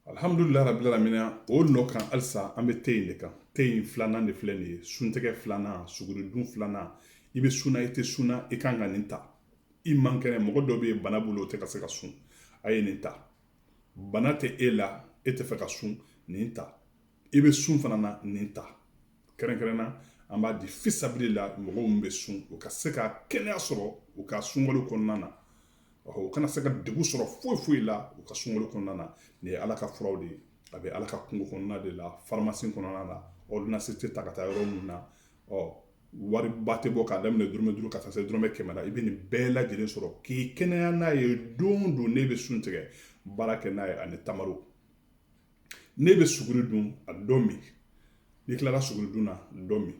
alihamudulila rabili alamin o nɔ kan halisa an bɛ te in de kan te in filanan de filɛ nin ye suntigɛ filanan suguridun filanan i bɛ sun na i tɛ sun na i kan ka nin ta i man kɛnɛ mɔgɔ dɔ bɛ yen bana b'o la o tɛ ka se ka sun a ye nin ta bana tɛ e la e tɛ fɛ ka sun nin ta i bɛ sun fana na nin ta kɛrɛnkɛrɛnna an b'a di fisabilila mɔgɔ min bɛ sun u ka se ka kɛnɛya sɔrɔ u ka sunkalo kɔnɔna na u kana se ka degun sɔrɔ foyi foyi la u ka sunkalo kɔnɔna na nin ye ala ka furaw de ye a bɛ ala ka kungo kɔnɔna de la farimasi kɔnɔna na ordonnance tɛ ta ka taa yɔrɔ min na ɔ wari ba tɛ bɔ k'a daminɛ dɔrɔmɛ duuru ka taa se dɔrɔmɛ kɛmɛ la i bɛ nin bɛɛ lajɛlen sɔrɔ k'i kɛnɛya n'a ye don o don n'e bɛ sun tigɛ baara kɛ n'a ye ani tamaro n'e bɛ suguri dun a dɔ min n'i tilara suguri dun na dɔ min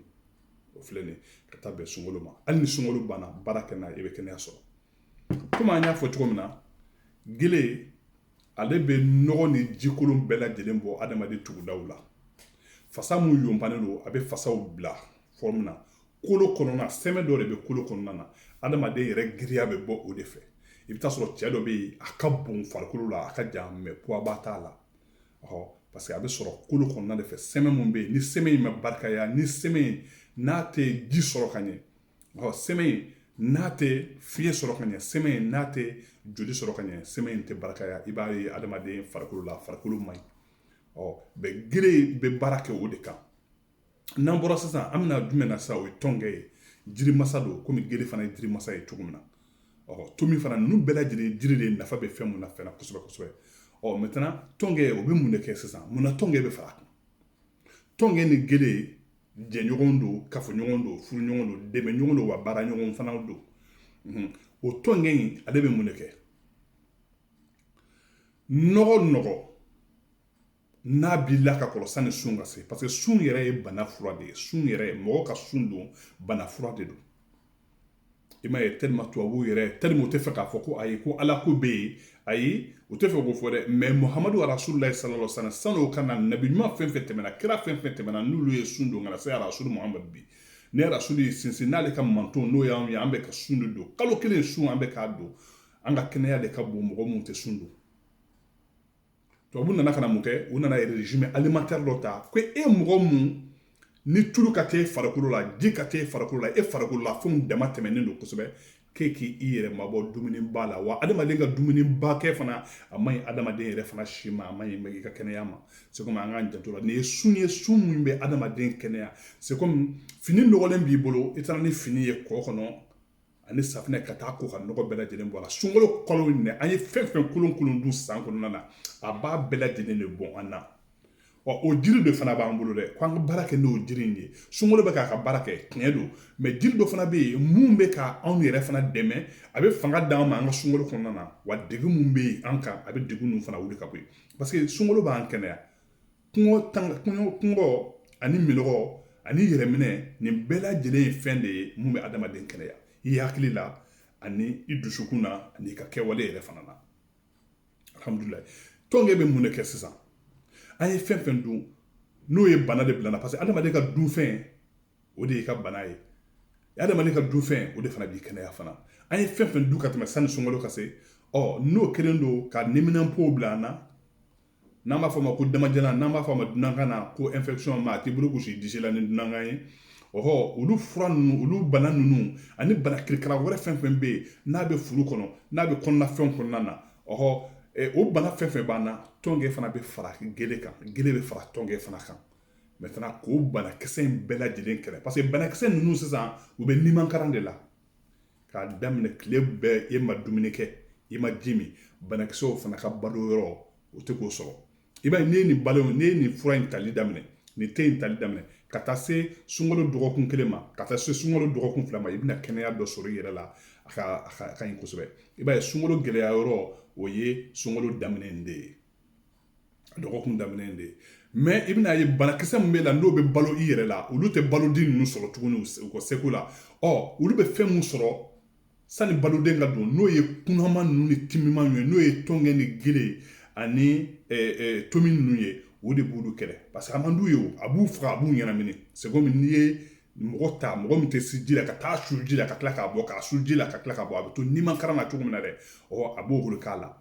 o filɛ nin ka taa bɛn sunkalo ma hali ni sunkalo banna baara kɛ n'a ye i bɛ kɛnɛya sɔrɔ komi an y'a fɔ cogo min na gele ale bɛ nɔgɔ ni jikolon bɛɛ lajɛlen bɔ adamaden tugudaw la fasa min yobalen don a bɛ fasaw bila forme na kolo kɔnɔna sɛmɛ dɔ de bɛ kolo kɔnɔna na adamaden yɛrɛ giriya bɛ bɔ o de fɛ i bɛ taa sɔrɔ cɛ dɔ bɛ yen a ka bon farikolo la a ka jan mais poids ba t'a la ɔ parce que a bɛ sɔrɔ kolo kɔnɔna de fɛ sɛmɛ min bɛ yen ni sɛmɛ in ma barikaya ni sɛmɛ in n'a tɛ ji sɔrɔ ka ɲɛ ɔ sɛmɛ in n'a tɛ fiɲɛ sɔrɔ ka ɲɛ sɛmɛ in n'a tɛ joli sɔrɔ ka ɲɛ sɛmɛ in tɛ barikaya i b'a ye adamaden farikolo la farikolo man ɲi ɔ bɛ gere bɛ baara kɛ o de kan n'an bɔra sisan an bɛna jumɛn na sa o ye tɔnkɛ ye jiri masa don komi gere fana ye jiri masa ye cogo min na ɔ tomi fana ninnu bɛɛ lajɛlen jiri de nafa bɛ fɛn mun na fɛn kosɛbɛ kosɛbɛ ɔ maintenant tɔnkɛ o bɛ mun de kɛ sisan mun na tɔnkɛ bɛ far'a kan tɔnkɛ ni gere jɛɲɔgɔn don kafoɲɔgɔn don furuɲɔgɔn don dɛmɛɲɔgɔn don wa baara ɲɔgɔn fana don o tɔnkɛ in ale bɛ mun de kɛ nɔgɔ nɔgɔ n'a b'i la ka kɔrɔ sani sun ka se parce que sun yɛrɛ ye bana fura de ye sun yɛrɛ ye mɔgɔ ka sun don bana fura de don i m'a ye tellement tubabuw yɛrɛ tellement u tɛ fɛ k'a fɔ ko ayi ko ala ko bɛ yen ayi u tɛ fɛ k'o fɔ dɛ mais muhamadu arasululayi salalahu alayi wa salamu san'o ka na nabi ɲuman fɛn fɛn tɛmɛna kira fɛn fɛn tɛmɛna n'olu ye sun don ka na se arasulu muhamadu bi ne arasulu ye sinsin n'ale ka manton n'o y'anw ye an bɛ ka sun de don kalo kelen sun an bɛ k'a don an ka kɛnɛya de ka bon mɔgɔ minnu tɛ sun don tubabu nana ka na mun kɛ u nana régime alimentaire dɔ ta ko e mɔgɔ mun ni tulu ka ca e farikolo la ji ka ca e farikolo la e farikolo la fɛnw dama tɛmɛnen don kosɛbɛ k'e k'i yɛrɛ mabɔ dumuniba la wa adamaden ka dumuniba kɛ fana a man ɲi adamaden yɛrɛ fana si ma a man ɲi i ka kɛnɛya ma c'est comme an k'an janto a la nin ye sun ye sun min bɛ adamaden kɛnɛya c'est comme fini nɔgɔlen b'i bolo i taara ni fini ye kɔ kɔnɔ ani safinɛ ka taa ko ka nɔgɔ bɛɛ lajɛlen bɔ a la sunkalo kalo in an ye fɛn fɛn kolon kolon dun san kɔnɔna na a b'a bɛɛ lajɛlen de bɔn an na ɔ o jiri de fana b'an bolo dɛ k'an ka baara kɛ n'o jiri in ye sunkalo bɛ k'a ka baara kɛ tiɲɛ don mais jiri dɔ fana bɛ yen mun bɛ ka anw yɛrɛ fana dɛmɛ a bɛ fanga d'an ma an ka sunkalo kɔnɔna na wa degun mun bɛ yen an kan a bɛ degun ninnu fana wuli ka bɔ yen parce que sunkalo b'an kɛnɛya kɔngɔ tan kɔngɔ kɔngɔ ani minnɔgɔ ani yɛrɛminɛ nin bɛɛ lajɛlen ye fɛn de ye mun bɛ adamaden kɛnɛya i hakili la ani i dusukun na ani i ka kɛwale yɛrɛ fana na alhamdulilayi tɔnkɛ bɛ mun de kɛ sisan an ye fɛn fɛn dun n'o ye bana de bila an na parce que adamaden ka dunfɛn o de y'i ka bana ye adamaden ka dunfɛn o de fana b'i kɛnɛya fana an ye fɛn fɛn dun ka tɛmɛ sani sunkalo ka se ɔ n'o kɛlen don ka neminanpow bila an na n'an b'a fɔ ma ko damajalan n'an b'a fɔ a ma dunankan na ko infection ma a t'i bolo gosi disi la ni dunankan ye ɔhɔ olu fura ninnu olu bana ninnu ani bana kirikara wɛrɛ fɛn fɛn bɛ yen n'a bɛ furu kɔnɔ n'a bɛ kɔnɔna fɛnw kɔnɔna na ɔhɔ o bana fɛn fɛn b'an na tɔnkɛ fana bɛ fara gele kan gele bɛ fara tɔnkɛ fana kan maintenant k'o banakisɛ in bɛɛ lajɛlen kɛlɛ parce que banakisɛ ninnu sisan u bɛ nimankaran de la k'a daminɛ tile bɛɛ e ma dumuni kɛ i ma ji min banakisɛw fana ka balo yɔrɔ o tɛ k'o sɔrɔ i b'a ye n'i ye nin balo n'i ye nin fura in tali daminɛ nin te in tali daminɛ ka taa se sunkalo dɔgɔkun kelen ma ka taa se sunkalo dɔgɔkun fila ma i bɛna kɛnɛya dɔ sɔrɔ i yɛrɛ la a ka a ka ɲi kosɛbɛ i b'a ye sunkalo gɛlɛya yɔrɔ o ye sunkalo daminɛ in de ye dɔgɔkun daminɛ de ye mais i bɛna ye banakisɛ min b'i la n'o bɛ balo i yɛrɛ la olu tɛ baloden ninnu sɔrɔ tuguni u ka seko la ɔ olu bɛ fɛn min sɔrɔ sani baloden ka don n'o ye kunaman ninnu ni timiman ye n'o ye tɔnkɛ ni gele ani tomi ninnu ye o de b'olu kɛlɛ parce que a man d'u ye a b'u faga a b'u ɲɛnamini c'est comme n'i ye mɔgɔ ta mɔgɔ min tɛ se ji la ka taa su ji la ka tila k'a bɔ k'a su ji la ka tila k'a bɔ a bɛ to nimankaran na cogo min na dɛ ɔ a b'o bolo k'a la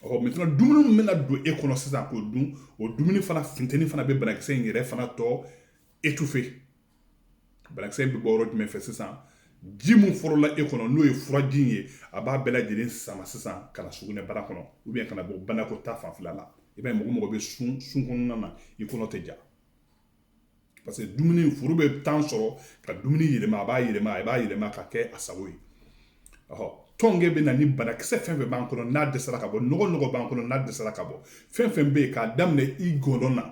ɔ maintenant dumuni min bɛna don e kɔnɔ sisan k'o dun o dumuni fana funteni fana bɛ banakisɛ in yɛrɛ fana tɔ étouffer banakisɛ in bɛ bɔ yɔrɔ jumɛn fɛ sisan ji min fɔlɔla e kɔnɔ n'o ye furaji in ye a b'a bɛɛ lajɛlen sama sisan ka na sugunɛbara kɔnɔ u bɛ ka na bɔ banakɔtaa fanfɛla la i b'a ye mɔgɔ mɔgɔ bɛ sun sun kɔnɔna na i kɔnɔ tɛ ja parce que dumuni furu bɛ temps sɔrɔ ka dumuni yɛlɛma a b'a yɛlɛma a b'a yɛlɛma ka kɛ a sago ye ɔhɔ tɔnkɛ bɛ na ni banakisɛ fɛn fɛn b'an kɔnɔ n'a dɛsɛra ka bɔ nɔgɔ nɔgɔ b'an kɔnɔ n'a dɛsɛra ka bɔ fɛn fɛn bɛ yen k'a daminɛ i gɔnɔ na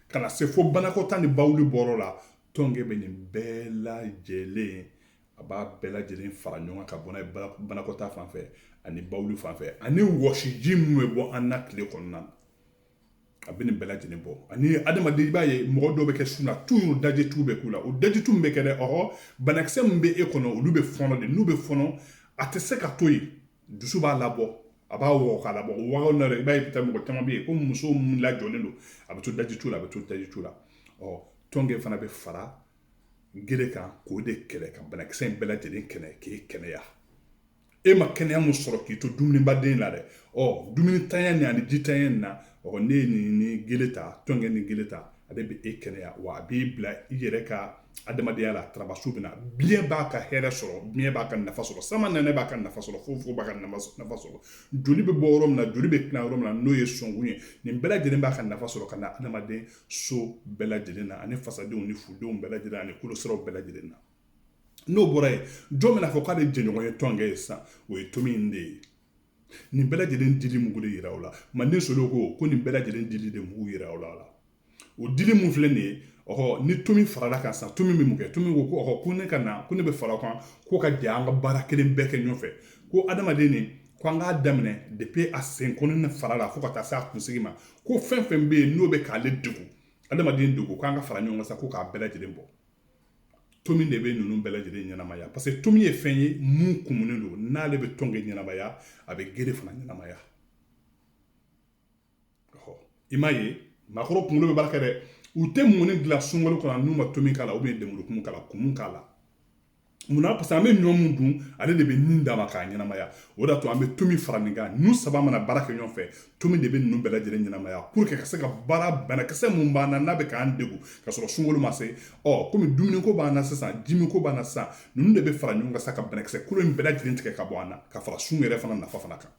ka na se fo banakɔtaa ni bawuli bɔrɔ la tɔnkɛ bɛ nin bɛɛ lajɛlen a b'a bɛɛ lajɛlen fara ɲɔgɔn kan ka bɔ n'a ye banakɔtaa fan fɛ ani bawuli fan fɛ ani wɔsiji min bɛ bɔ an na tile kɔnɔna na a bɛ nin bɛɛ lajɛlen bɔ ani adamaden i b'a ye mɔgɔ dɔw bɛ kɛ sun na toujours dajitu bɛ k'u la o dajitu min bɛ kɛ dɛ ɔhɔ banakisɛ min bɛ e kɔnɔ olu bɛ fɔnɔ de n'u bɛ fɔnɔ a tɛ se ka to yen dusu b'a labɔ a b'a wɔgɔ k'a labɔ o wɔgɔ na i b'a ye bi mɔgɔ caman bɛ yen ko muso min lajɔlen don a bɛ to dajitu la a bɛ to dajitu la ɔ tɔnkɛ fana bɛ fara gere kan k'o de kɛlɛ ka banakisɛ in bɛɛ lajɛlen kɛlɛ k'e kɛnɛya e ma kɛnɛya mun sɔrɔ k'i to dumunibaden la dɛ ɔ dumunintanya nin ani jintanya nin na ɔ ne ye nin ni gele ta tɔnkɛ ni gele ta ale bɛ e kɛnɛya wa a b'i bila i yɛrɛ ka adamadenya la tarabasu bɛ na biɲɛ b'a ka hɛrɛ sɔrɔ biɲɛ b'a ka nafa sɔrɔ samanɛnɛ b'a ka nafa sɔrɔ fofogo b'a ka nafa sɔrɔ joli bɛ bɔ yɔrɔ min na joli bɛ tila yɔrɔ min na n'o ye sɔnkun ye nin bɛɛ lajɛlen b'a ka nafa sɔrɔ ka na adamaden so bɛɛ lajɛlen na ani fasadenw ni fudenw bɛɛ lajɛlen ani kolosiraw bɛɛ lajɛlen na n'o bɔra yen jɔn bɛna fɔ k'ale jɛɲɔgɔn ye tɔnkɛ ye sisan o ye tomi in de ye nin bɛɛ lajɛlen dili mugu de yira o la manden solo ko ko nin bɛɛ lajɛlen dili de mugu yira o la o dili mun filɛ nin ye ɔhɔ ni tomi farala kan sisan tomi min kɛ tomi ko ko ɔhɔ ko ne ka na ko ne bɛ fara kan ko ka jɛ an ka baara kelen bɛɛ kɛ ɲɔgɔn fɛ ko adamaden nin ko an k'a daminɛ depuis a senkɔninin fara la fo ka taa se a kunsigi ma ko fɛn fɛn bɛ yen n'o bɛ k'ale degun adamaden degun k'an ka fara ɲɔgɔn kan sa ko k'a bɛɛ lajɛlen bɔ tomi de bɛ ninnu bɛɛ lajɛlen ɲɛnamaya parce que tomi ye fɛn ye mun kumunen don n'ale bɛ tɔnkɛ ɲɛnamaya a bɛ gere fana ɲɛnamaya i m'a ye maakɔrɔ kunkolo bɛ baara kɛ dɛ u tɛ mɔni dilan sunkalo kɔnɔ n'u ma tomi k'a la ou bien lemurukumu k'a la kumu k'a la munna parce que an bɛ ɲɔ mun dun ale de bɛ nin d'a ma k'a ɲɛnamaya o de y'a to an bɛ tomi fara nin kan ninnu saba mana baara kɛ ɲɔgɔn fɛ tomi de bɛ ninnu bɛɛ lajɛlen ɲɛnamaya pour que ka se ka baara banakisɛ mun b'an na n'a bɛ k'an degun ka sɔrɔ sunkalo ma se ɔ komi dumuniko b'an na sisan jiminko b'an na sisan ninnu de bɛ fara ɲɔgɔn kan sa ka banakisɛ kolo in bɛɛ lajɛlen tigɛ ka bɔ an na ka fara sun yɛrɛ fana nafa fana kan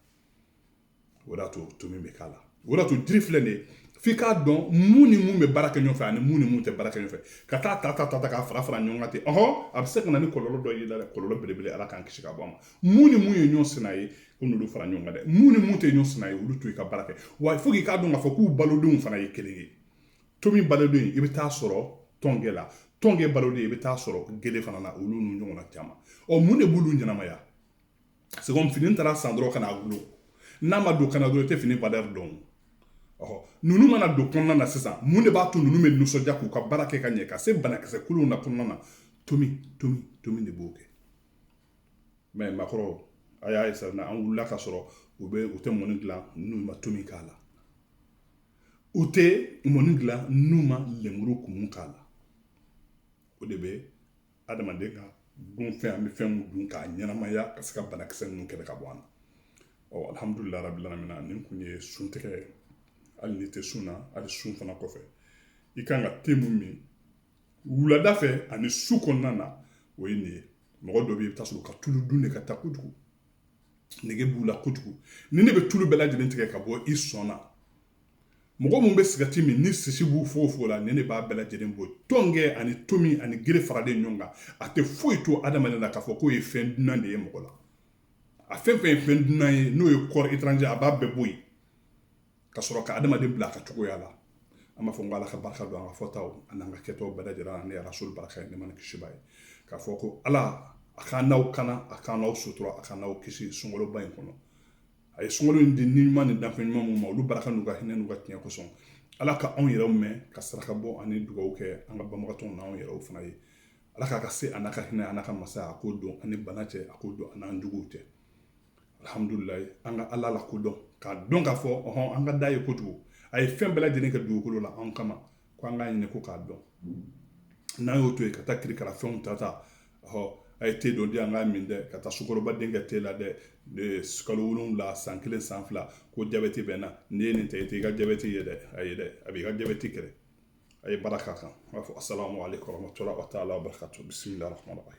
o de y'a to tomi bɛ k'a la o de y'a to jiri filɛ nin ye f'i k'a dɔn mun ni mun bɛ baara kɛ ɲɔgɔn fɛ ani mun ni mun tɛ baara kɛ ɲɔgɔn fɛ ka taa ta ta ta ta k'a fara fara ɲɔgɔn kan ten ɔhɔn a bɛ se ka na ni kɔlɔlɔ dɔ y'i la dɛ kɔlɔlɔ belebele ala k'an kisi ka bɔ a ma mun ni mun ye ɲɔgɔn sina ye ko n'olu fara ɲɔgɔn kan dɛ mun ni mun tɛ ɲɔgɔn sina ye olu to i ka baara kɛ wa fo k'i k'a dɔn k'a fɔ k'u balodenw fana ye kelen ye tomi baloden i bɛ taa sɔrɔ tɔnkɛ la tɔnkɛ baloden i bɛ taa sɔrɔ gele fana na olu n'u ɲɔgɔnna caman ɔ mun de b'olu ɲɛnamaya c'est comme fini taara san dɔrɔn ka n'a gulo n'a ma don kan na dɔrɔn i tɛ fini valeur dɔn ɔhɔ ninnu mana don kɔnɔna na sisan mun de b'a to ninnu bɛ nisɔndiya k'u ka baara kɛ ka ɲɛ ka se banakisɛ kuluw na kɔnɔna na tomi tomi tomi de b'o kɛ mɛ maakɔrɔ a y'a ye sisan an wulila ka sɔrɔ u bɛ u tɛ mɔni dilan n'u ma tomi k'a la u tɛ mɔni dilan n'u ma lemuru kumu k'a la o de bɛ adamaden ka dunfɛn an bɛ fɛn min dun k'a ɲɛnamaya ka se ka banakisɛ ninnu kɛlɛ ka bɔ an na ɔ alihamudulilayi rabi alamina nin kun ye sun tigɛ hali n'i tɛ sun na hali sun fana kɔfɛ i kan ka te mun min wulada fɛ ani su kɔnɔna na o ye nin ye mɔgɔ dɔ bɛ i bɛ t'a sɔrɔ ka tulu dun de ka ca kojugu nege b'u la kojugu nin de bɛ tulu bɛɛ lajɛlen tigɛ ka bɔ i sɔn na mɔgɔ minnu bɛ sigati min ni sisi b'u fogofogo la nin de b'a bɛɛ lajɛlen bɔ tɔnkɛ ani tomi ani gere faralen ɲɔgɔn kan a tɛ foyi to adamaden la k'a fɔ k'o ye fɛn dunan de ye mɔgɔ la a fɛn fɛn ye fɛn dunan ye n'o ye corps étranger a b'a bɛɛ bɔ yen ka sɔrɔ ka adamaden bila a ka cogoya la an b'a fɔ ko ala ka barika don an ka fɔtaw ani an ka kɛtaw bɛɛ lajɛlen na rasuli barika ye nɛɛma ni kisi b'a ye k'a fɔ ko ala a k'an n'aw kana a k'an n'aw sutura a k'an n'aw kisi sunkaloba in kɔnɔ a ye sunkalo in di ni ɲuman ni danfɛn ɲuman minnu ma olu barika n'u ka hinɛ n'u ka tiɲɛ kosɔn ala ka anw yɛrɛw mɛn ka saraka bɔ ani dugawu kɛ an ka banabagatɔw n'anw yɛrɛw fana ye ala k'a ka se a n'a ka hinɛ a n'a ka masaya a k'o don an ni bana cɛ a k'o don an n'an juguw cɛ alihamudulilayi an ka ala lakodɔn k'a dɔn k'a fɔ ɔhɔn an ka d'a ye kojugu a ye fɛn bɛɛ lajɛlen kɛ dugukolo la anw kama ko an k'a ɲini ko k'a dɔn n'an y'o to yen ka taa kirikara fɛnw ta ta ɔhɔ a ye te dɔ di an k'a min dɛ ka taa sukaroba den kɛ te la dɛ kalo wolonwula san kelen san fila ko jabɛti bɛ n na n'i ye nin ta i tɛ i ka jabɛti ye dɛ ayi dɛ a b'i ka jabɛti kɛlɛ a ye baara k'a kan n b'a fɔ asalamu aleykum warahmatulahi wa taala wa barakatu bisimila rahmani rahim